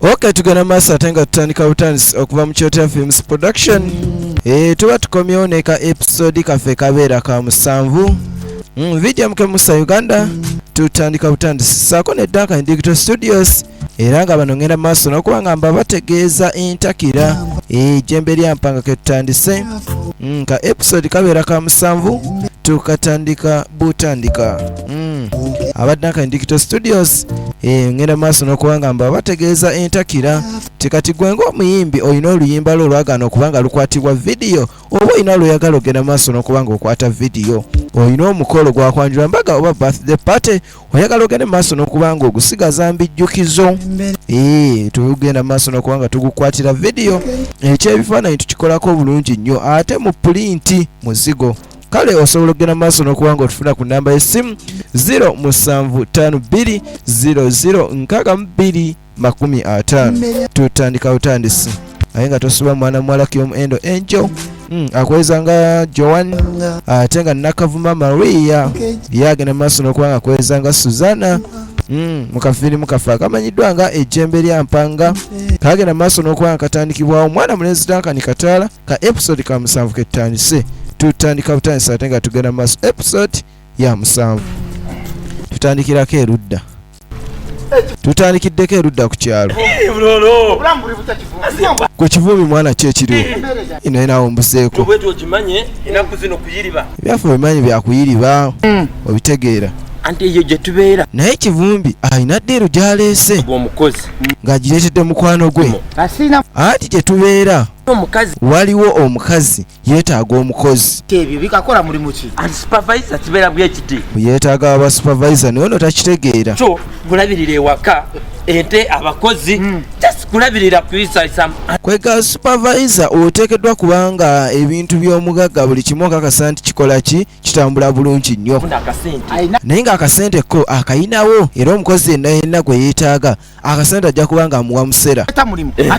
ok tugenda maaso ate nga tutandika butandisi okuva mu kyotera films production e, tuba tukomyewo neka episode kaffe kabeera ka musanvu mm, video muke musa uganda tutandika butandisi saako ne duncan digital studios era nga bano ngenda maaso nokuba nga mba bategeeza entakira ejembe lya mpanga ketutandise mm, ka episode kabeera ka musanvu tukatandika butandika mm. abadde nka indicto studios eh, ngenda maaso nokuba nga mba bategeeza entakira tikati gwe ngaomuyimbi olina oluyimba lwo olwagaana okuba nga lukwatibwa vidiyo oba olina lwoyagala ogenda maaso nokuba nga okwata vidiyo olina omukolo gwakwanjula mbaga oba birthday party oyagala ogende mu maaso n'okuba nga ogusigaza mbijjukizo ee tugenda mu maaso n'okuba nga tugukwatira vidiyo ekyebifaananyi tukikolako bulungi nnyo ate mu pulinti muzigo kale osobola okugenda mu maaso n'okuba nga otufuna ku nnamba y'essimu 0 musanvu 52 00 62 makumi ataano tutandika butandisi naye nga tosuba mwana muwala kyomu endo enjo hmm, akweza nga joan ate nga nakavuma maria ye agenda mu maaso n'okuba nga kweza nga suzana hmm, mu kafirimu kafe akamanyiddwa nga ejjembe lya mpanga kagenda mu maaso n'okuba nga katandikibwawo omwana mulenzi dankani kataala ka episode ka musanvu ketutandise tutandika butandisa ate nga tugenda mu maaso episode ya musanvu tutandikirako erudda tutandikiddeko erudda ku kyalo gwe kivuumi mwana ki ekiriwo naye nawe ombuseeko ebyaffe obimanyi byakuyiriba hmm. obitegeera anti eyo gye tubeera naye kivumbi alina ddiiru gyaleese omukozi ng'agireetedde mukwano gwe anti gye tubeera waliwo omukazi yeetaaga omukozi ebyo bikakola mulimu ki anti supervisor kibeera bwekiti yeetaaga aba supervisor naye ono takitegeera so kulabirira ewaka ente abakozi hmm. just kulabirira kwega supervisor oteekeddwa kubanga ebintu by'omugagga buli kimu okakasa nti kikola ki kitambula bulungi nnyo naye ng'akasente ko akayinawo era omukozi yenna yenna gwe yeetaaga akasente ajja kuba nga amuwa musera eh.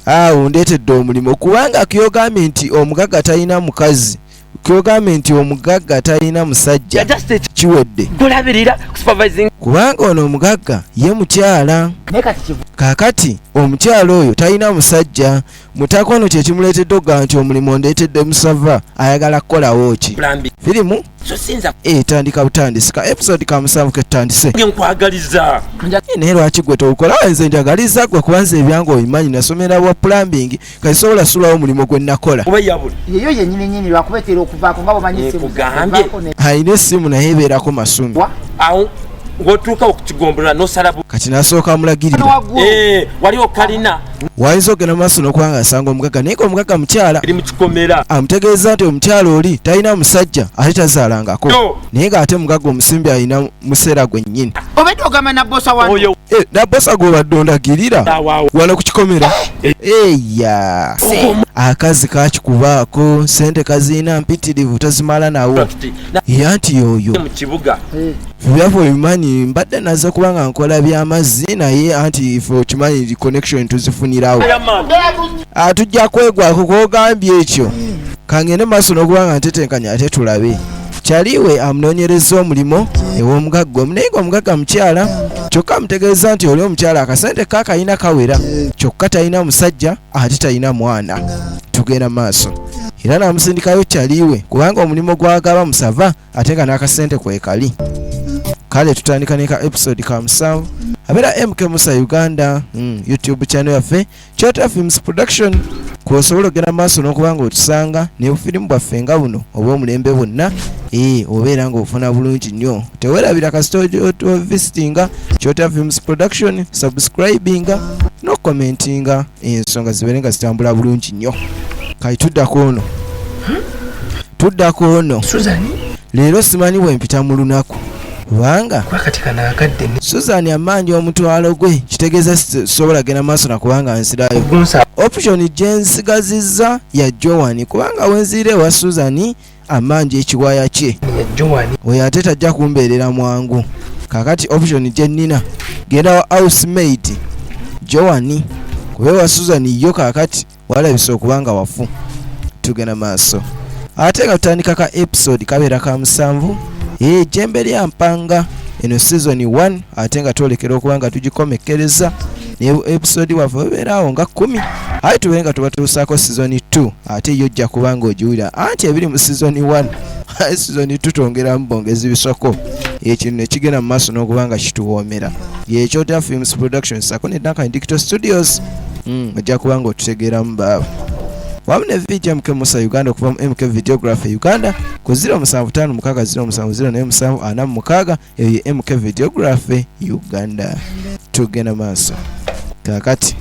awo ndeetedde omulimu kubanga kyogambye nti omugagga talina mukazi kyogambye nti omugagga talina musajja kiwedde kubanga ono omugagga ye mukyala kakati omukyala oyo talina musajja mutaka ono kyekimuleetedde okugaa nti omulimu ondeetedde musava ayagala kukolawo ki firimu etandika eh, butandisika episode kamusanvu ketutandise naye lwaki gwe towukola nze njagaliza gwe kuba nze ebyange obimanyi nasomera bwa plumbing kati sobola sulawo omulimu gwe nakola alina essimu naye ebeerako masumi wotuuka okukigombolola nosalabu kati nasooka mulagirira eh, wali okalina wayinza okugenda maaso nokubanga asanga omugaga naye nga omugaga mukyala amutegeeza nti omukyala oli talina musajja ate tazaalangako naye nga ate mugaga omusimbi alina museera gwennyini eh, nabosa gwobadde ondagirira wala ku kikomera eh, eh. eya akazi kakikubaako sente kaziina mpitirivu tazimala nawo yanti yoyo Therefore mmanyi mbadde naze kuba nga nkola by'amazzi naye anti fe okimanyi connection tuzifunirawo ah, tujja kwegwako kwogambye ekyo kangende maaso n'okuba nga ntetenkanya ate tulabe kyaliwe amunoonyereza omulimu ew'omugagga omu naye nga omugagga mukyala kyokka amutegeeza nti oli omukyala akasente ka kalina kawera kyokka talina musajja ate talina mwana tugenda maaso era n'amusindikayo kyaliwe kubanga omulimu gwagaba musava ate nga n'akasente kwekali kale tutandika neka episode ka musanvu abeera mk musa uganda mm, youtube channel yaffe chota films production kwosobola okugenda maaso n'okuba nga otusanga nebufirimu bwaffe nga buno oba omulembe bwonna ee eh, obeera nga ofuna bulungi nnyo tewerabira kasita ovisitinga chota films production subscribinga nokukomentinga no ensonga zibeere nga zitambula bulungi nnyo kati tuddako ono tuddako ono leero simanyi bwe mpita mu lunaku kubanga suzan amanja omutwalo gwe kitegeeza sisobola genda maaso nakubanga nsirayo option gyensigazizza ya joani kubanga wenzirira ewa suzani amanja ekiwaya kye oyo ate tajja kumbeerera mwangu kakati option gyenina genda wa housemate joani kuba ewa susan yo kakati walabisa okuba nga wafu tugenda maaso ate nga tutandika ka episode kabeera ka musanvu ejembe eh, lya mpanga eno season 1 ate nga twolekera okuba nga tugikomekkereza ne episode waffe webeeraawo nga kumi aye tubeere nga tubatuusaako season 2 ate yo ojja kuba ng'ogiwulira anti ebiri mu sizoni 1 sizoni tutongeramu bongezi bisoko ekino nekigenda mu maaso n'okuba nga kituwoomera yekyota films production sako ne duncan dicto studios hmm, ojja kuba nga otutegeeramu baaba wamu ne vj mk musa uganda okuva mu mk videography uganda ku 0756 07 47 46 eyo ye mk videography uganda tugenda maaso kakati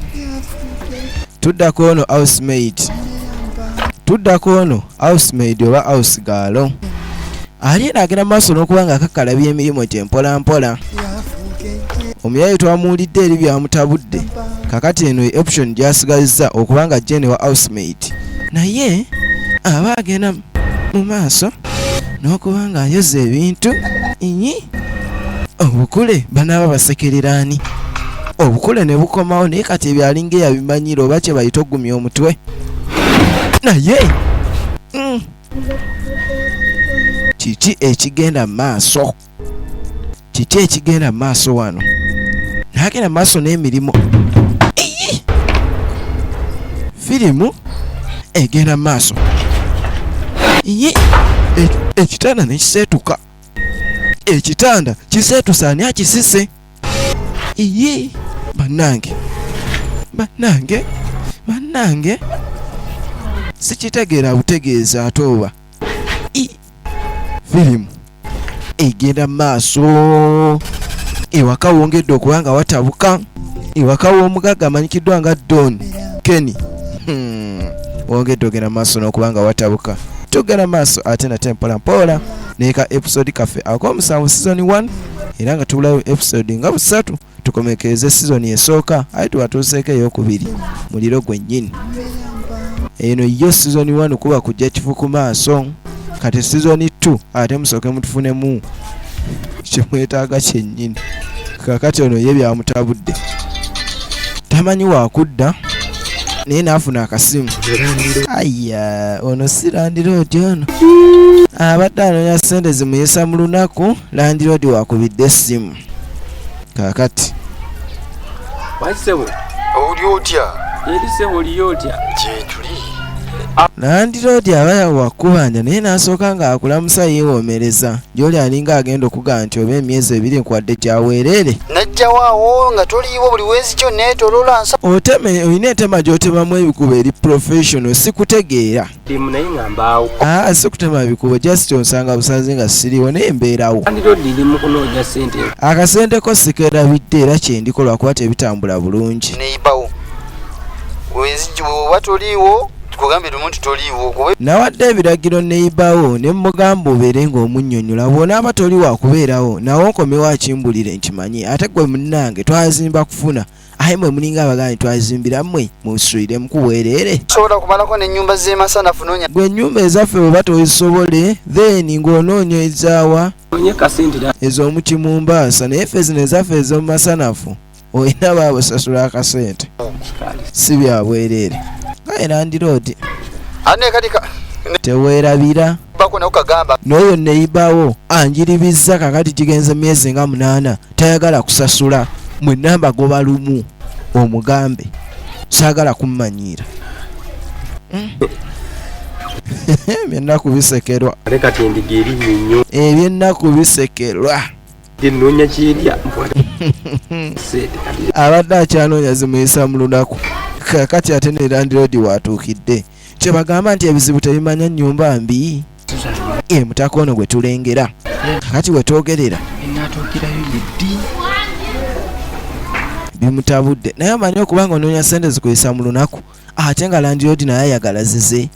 tuddako ono housemaid tuddako ono housemaid oba house gaalo ali era agenda maaso n'okuba nga akakalabya emirimu gye mpola mpola omuyayi twamuwulidde eri byamutabudde kakati eno ye option gyasigazizza okuba nga jene wa housemaid naye aba agenda mu maaso n'okuba ng'ayoza ebintu inyi obukule banaaba basekereraani obukule ne bukomawo naye kati ebyo alinga eyabimanyira oba kye bayita ogumya omutwe naye mm, kiki ekigenda mu maaso kiki ekigenda maaso wano nagenda maaso n'emirimu firimu egenda maaso ye ekitanda nekiseetuka ekitanda kiseetusa ani akisise ye bannange bannange bannange sikitegeera butegeeza ate oba firimu egenda mu maaso ewaka wongedde okuba nga watabuka ewaka w'omugagga amanyikiddwa nga don kenny hmm. wongedde ogenda mu maaso n'okuba nga watabuka tugenda maaso ate nate mpola mpola neka episode kaffe ak'omusanvu season 1 era nga tubulayo episode nga busatu tukomekeeze sizoni esooka aye tubatuuseeko eyokubiri muliro gwennyini eno yo sizoni wanu kuba kujja kifu ku maaso kati sizoni 2 ate musooke mutufunemu kyemwetaaga kyennyini kakati ono ye byamutabudde tamanyi wakudda naye naafuna akasimu aya ono si landiroodi ono abadde anonya sente zimuyisa mu lunaku landiroodi wakubidde essimu kakati wasebo oli otya eri sebo oli otya kyekuli nandiroodi aba yawakubanja naye n'asooka ng'akulamusa yeewomereza gy'oli alinga agenda okugaa nti oba emyezi ebiri nkwadde gyaweereere najjawaawo nga toliiwo buli wezi kyo neetolola oteme olina etema gy'otemamu ebikuba eri professional sikutegeera demu naye nga mbaawo aa ah, si kutema bikubo just onsanga busanze nga siriwo naye mbeerawo andirodi mu kunoonya sente akasente ko sikerabidde era kyendiko lwakuba tebitambula bulungi neyibawo oba toliiwo kugambye lumu nti toliiwo kuba nawadde ebiragiro neyibawo ne mugamba obeere ng'omunnyonnyola bw'onaaba toli wa kubeerawo nawe nkomewo akimbulire nkimanyi ate gwe munnange twazimba kufuna aye mwe mulinga abagani twazimbira mwe musulire mukubwerere sobola kumalako nenyumba zemasanafu nonya gwe enyumba ezaffe bwe batozisobole then ng'onoonya ezaawa ezo omuti mu mbaasa naye ffe zino ezaffe ezomumasanafu olina babusasula akasente si byabwerere kaye nandiroodi teweerabira n'oyo neyibawo anjiribizza kakati gigenze myezi nga munaana tayagala kusasula mwe namba goba lumu omugambe sagala kummanyiira hmm. ebyennaku bisekerwa ebyennaku eh, bisekerwa enonya kyerya abadde akyanoonya zimuyisa mu lunaku kakati ate nerandirodi watuukidde kyebagamba nti ebizibu tebimanya nyumba mbi emutaka ono gwe tulengera kakati wetwogerera bimutabudde naye amanyi okuba nga onoonya sente zikuyisa mu lunaku ate nga landiodi naye ayagala zize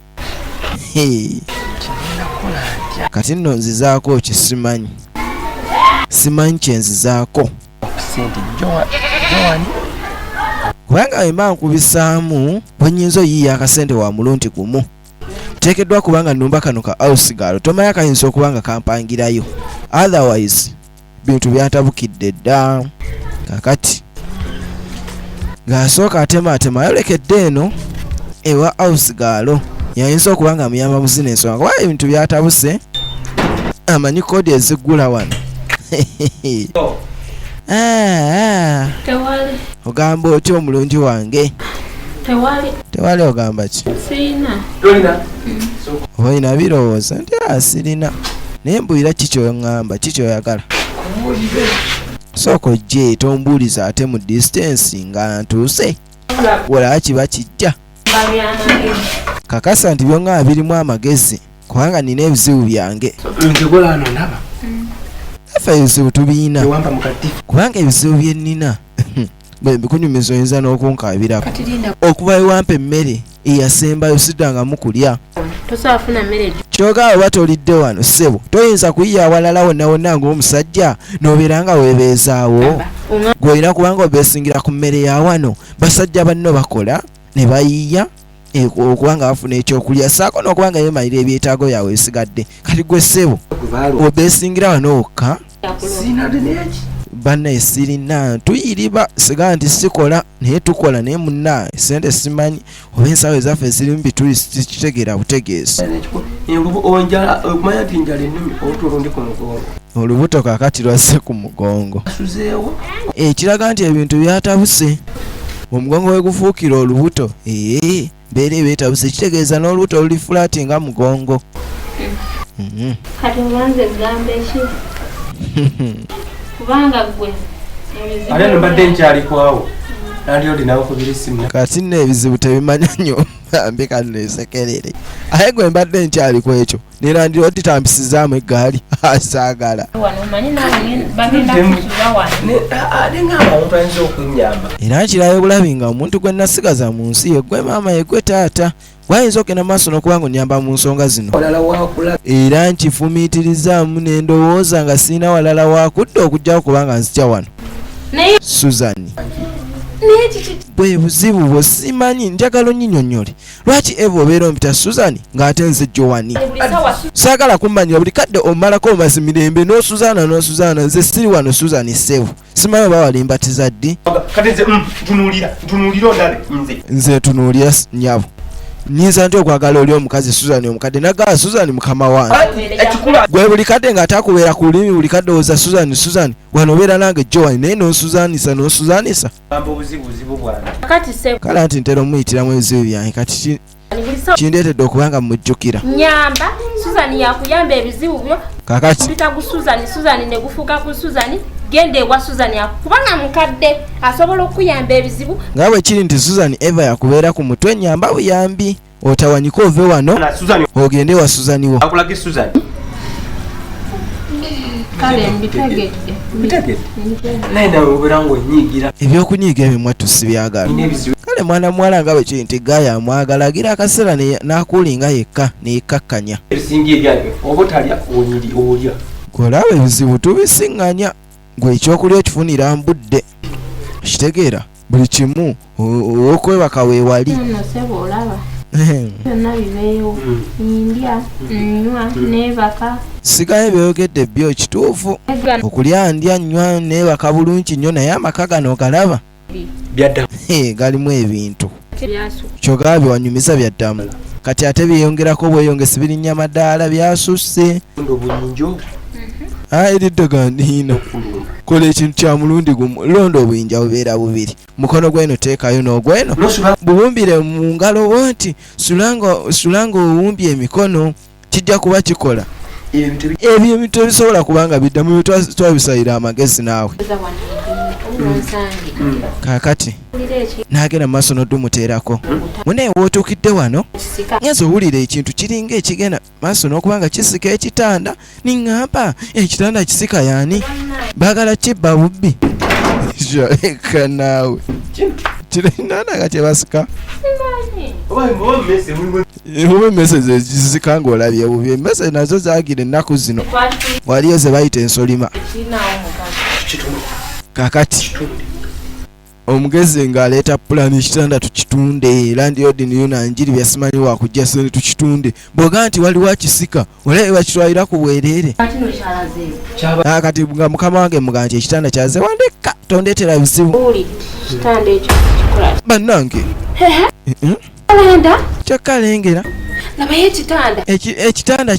kati nno nzizaako kisimanyi simanyi kyenzizaako kubanga wemba nkubisaamu bwenyinza oyiiya akasente wa mulundi gumu teekeddwa kubanga numba kano ka ausigaalo tomayo akayinza okuba nga kampangirayo otherwise bintu byatabukidde dda kakati ng'asooka atemaatema ayolekedde eno ewa house gaalo yayinza okuba nga muyamba mu zino ensonga kuba ebintu byatabuse amanyi kodi eziggula wano ah. ogamba otya omulungi wange tewali ogamba ki oba olina birowooza nti asirina ah, naye mbulira kikyoyoŋŋamba kikyoyagala sooka ojje tombuuliza ate mu distance nga ntuuse wala kiba kijja kakasa nti byongaba birimu amagezi kubanga nina ebizibu byange efe ebizibu tubiyina kubanga ebizibu byenina bwe mbikunyumiza oyinza n'okunkaabirako okuva ewampa emmere eyasembayo siddangamu kulya kyoka oba tolidde wano ssebo toyinza kuyiya awalala wonna wonna ng'omusajja n'obeera nga weebeezaawo gw'olina kubanga obeesingira ku mmere ya wano basajja banno bakola ne bayiiya Eh, okuba nga bafuna ekyokulya saako n'okuba nga yemalira ebyetaago byabwe ebisigadde kati gwe ssebo obesingira wano wokka banaye sirina tuyiriba siga nti sikola naye tukola naye munaye sente simanyi oba ensawo ezaffe zirimu bitulikitegera butegeesi olubuto kakati lwazze ku mugongo ekiraga nti ebintu byatabuse omugongo wegufuukira olubuto ee beera ebetabuse kitegeeza n'olubuto luli fulaati nga mugongo mhm. kati obanze egamba eki kubanga gwe ate nobadde nkyali kwawo nali olinawo kubira esimu kati nno ebizibu tebimanya nyo bambi kano esekerere aye gwe mbadde nkyali kwekyo nera ndi otitambisizaamu eggaali asaagala era nkirayo bulabi nga omuntu gwe nasigaza mu nsi ye gwe maama ye gwe taata gwayinza okugenda maaso n'okuba nga onyamba mu nsonga zino era nkifumiitirizaamu ne ndowooza nga sirina walala wakudda okugjawo kubanga nzija wano suzani bwe buzibu bwo simanyi njagala onyinyonnyole lwaki eva obeera ompita suzani ng'ate nze jowani saagala kummanyira buli kadde omalako omazi mirembe n'osuzaana n'osuzaana nze siri wano suzani ssebu simanyi oba walimbatiza ddi mm, nze ntunuulira nyabo nyinza nti okwagala oli omukazi suzani omukadde nagala suzani mukama wange gwe buli kadde nga atakubeera ku lulimi buli kadde owoza suzani suzani wano obeera nange jowani naye n'osuzaanisa n'osuzaanisa kale anti ntera omuyitiramu ebizibu byange kati kindeetedde okuba nga mujjukira nyamba suzani yakuyamba ebizibu byo kakati mpita ku suzani suzani ne gufuuka ku suzani genda ewa suzani kubanga mukadde asobola okukuyamba ebizibu nga bwe kiri nti suzani eva yakubeera ku mutwe nyamba buyambi otawanyika ove wano ogende wa suzaniwo ebyokunyiiga ebyo mwattu sibyagala kale mwana muwala nga bwe kiri nti gaye amwagala agira akaseera n'akuulinga yekka neyekkakkanya gwolaba ebizibu tubisiŋŋanya gwe ekyokulya okifunira mbudde okitegeera buli kimu okwebaka wewali sigayo ebyogedde byo kituufu okulya ndya nywa nebaka bulungi nnyo naye amaka gano galaba galimu ebintu kyogaba byewanyumiza byaddamu kati ate byeyongerako bweyongesi birinya madaala byasusse Ah, eriddoga ndiino kola ekintu kya mulundi gumu londa obuyinja bubeera bubiri mukono gweno teekayo n'ogweno bubumbire mu ngalo wo nti sulanga owumbye emikono kijja kuba kikola ebyo ebintu tebisobola kuba nga biddamu twabisayira amagezi naawe kakati nagenda mumaaso nodumuteerako munaye wotuukidde wano ngenza owulira ekintu kiringa ekigenda maaso n'okuba nga kisika ekitanda niŋŋamba ekitanda kisika yaani baagala kibba bubbi kyoleka naawe kirinana nga kyebasika oba emmese zezisika ng'olabye bubi emmese nazo zagira ennaku zino waliyo ze bayita ensolima kakati omugezi nga aleeta pulani ekitanda tukitunde landiodi niyo nanjiri byasimanyi wakujja sente tukitunde bwoga nti waliwo akisika olabe bakitwalira ku bwereere ah, kati nga mukama wange muga nti ekitanda kyaze wandeka tondetera bizibu bannange kyakalengera ekitanda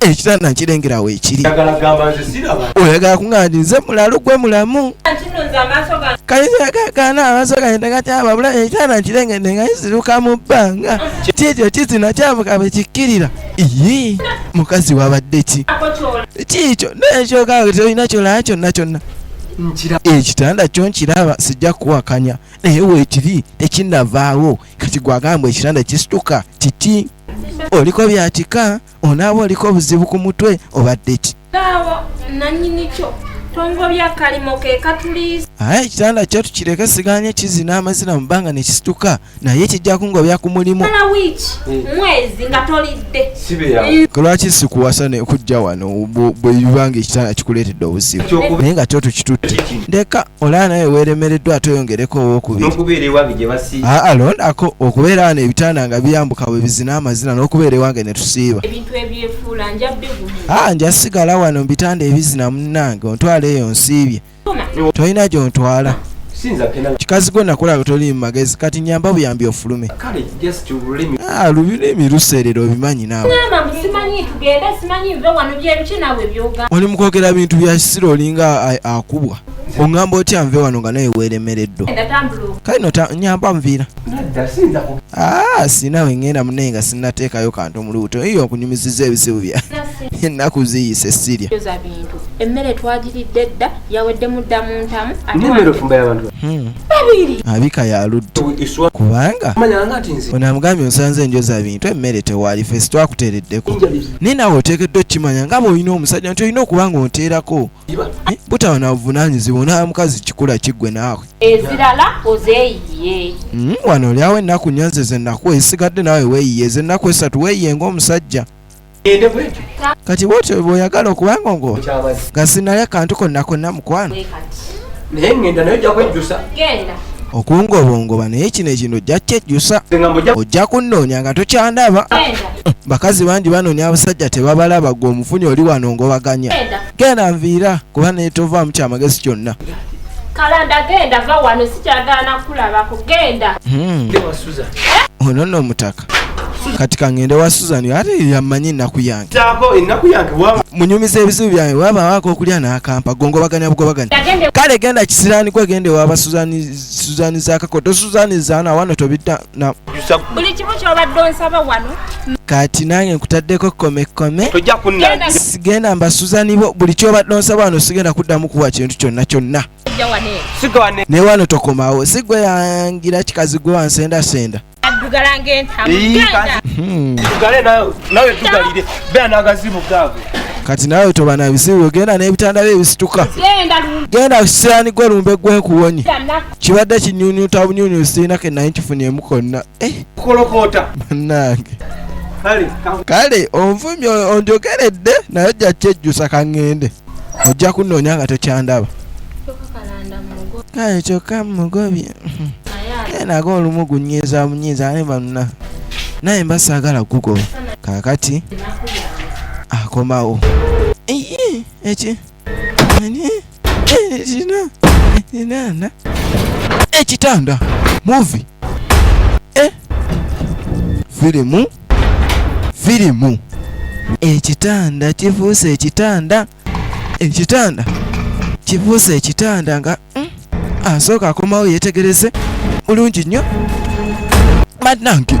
ekitanda nkirengera weekiri oyagala kuŋaani nze mulalu gwe mulamu kayinzagagana amaaso gagenda gatyababula ekitanda nkirengedde nga kisiruka mu bbanga kiekyo kizina kyavuka bwe kikkirira ii mukazi wabadde ki kiikyo nekyoka tolina kyolaa kyonna kyonna ekitanda kyo nkiraba sijja kuwakanya naye weekiri tekinavaawo kati gwagamba ekitanda kisituka kiti oliko byatika onaaba oliko obuzibu ku mutwe obadde ki aye ekitanda kyo tukireke siganye kizina amazina mu bbanga ne kisituka naye kijja kungobya ku mulimu ku lwaki sikuwasa ne kujja wano bwe bibanga ekitanda kikuleetedde obuzibu naye nga kyo tukitutte ndeka olaba naye weeremereddwa ate oyongereko owokubiri aa londako okubeera wano ebitanda nga biyambuka bwe bizina amazina n'okubeera ewange ne tusiiba aa nja sigala wano mu bitanda ebizina munnange ontwala eyo nsiibye tolina gyontwala kikazi gwe nakulaba toli mu magezi kati nyamba buyambi ofulume just ululimi ah lulimi luserera obimanyi nawe ngamba simanyi tugende simanyi nve wano byebiki nawe byoga oli mukwogera bintu bya kisiro olinga akubwa ongamba otya nve wano nga naye weeremereddwa kale no nyamba nviira ah, sinawe ngenda munaye nga sinateekayo kantu mu lubuto iyo okunyumiziza ebizibu bya ennaku ziyise sirya emmere twagiridde dda yawedde mudda mu ntamu hmm. abika yaludde kubanga onamugambye osanze enjoza bintu emmere tewaali fesi twakuteereddeko naye nawe oteekeddwa okukimanya nga bweolina omusajja nti olina okuba nga onteerako eh, butawa na buvunanyizibwa onaa mukazi kikula kiggwe naawe ezirala ozeeyiye hmm, wano olyawo ennaku nyanze ze nnaku esigadde naawe weeyiye ze nnaku esatu weeyiye ng'omusajja ende bwetyo kati bwotyo bwoyagala okubanga ngo nga sinali akantu konna konna mukwano naye ngenda naye ojja kwejjusa okungobongoba naye kino ekino ojja kyejjusa ojja kunnoonya nga tokyandaba bakazi bangi banoonya abasajja tebabalaba gwe omufunyi oli wano ngobaganya genda nviira kuba naye tovaamu kyamagezi kyonna kalanda genda va wano sikyagala nakulabako genda hmm. ono nno omutaka kati kangende wa susan ate yamanyi ennaku yange munyumiza ebizibu byange wabawako okulya nakampa gongobaganya bugobaganya kale genda kisirani gwe gende waba suzani zakakoto suzani zana wano tobidda kati nange nkutaddeko komekome sigenda mbasuzanibo buli kyobadde onsaba wano sigenda kuddamu kuwa kintu kyonna kyonna naye wano tokomawo sigwe yangira kikazi gwe wansendasenda hmm. kati nawe toba na bizibu genda n'ebitanda bye bisituka genda kusirani gwe lumbe gwekuwonye kibadde kinyunyuta bunyunyusi sirina ke naye nkifunyemu konna eh. banange kale onvumye onjogeredde naye ojja kyejjusa kaŋŋende ojja kunnoonya nga tokyandaba kale kyokka mugobye naye nago olumu gunyiiza munyiiza ane banna naye mba saagala kugoba kaakati akomawo eki enana ekitanda muvi e eh? firimu firimu ekitanda kifuuse ekitanda ekitanda kifuuse ekitanda nga mm, asooka akomawo yetegereze bulungi nnyo banange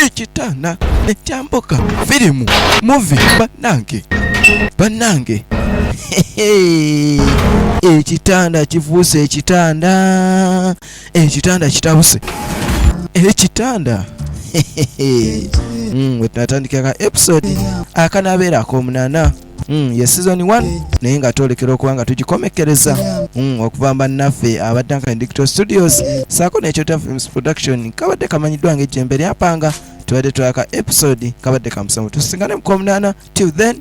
ekitanda ekyambuka firimu muvi banange banange ekitanda kifuuse ekitanda ekitanda kitabuse ekitanda mm, wetunatandikira ka episode akanabeera akomunana mm, ye season 1 naye nga twolekera okuba nga tugikomekkereza mm, okuva mba naffe aba duncan dicto studios saako nekyota films production kabadde kamanyiddwa nga ejjembe lyapanga tubadde twaka episode kabadde kamusamu tusingane mukomunana till then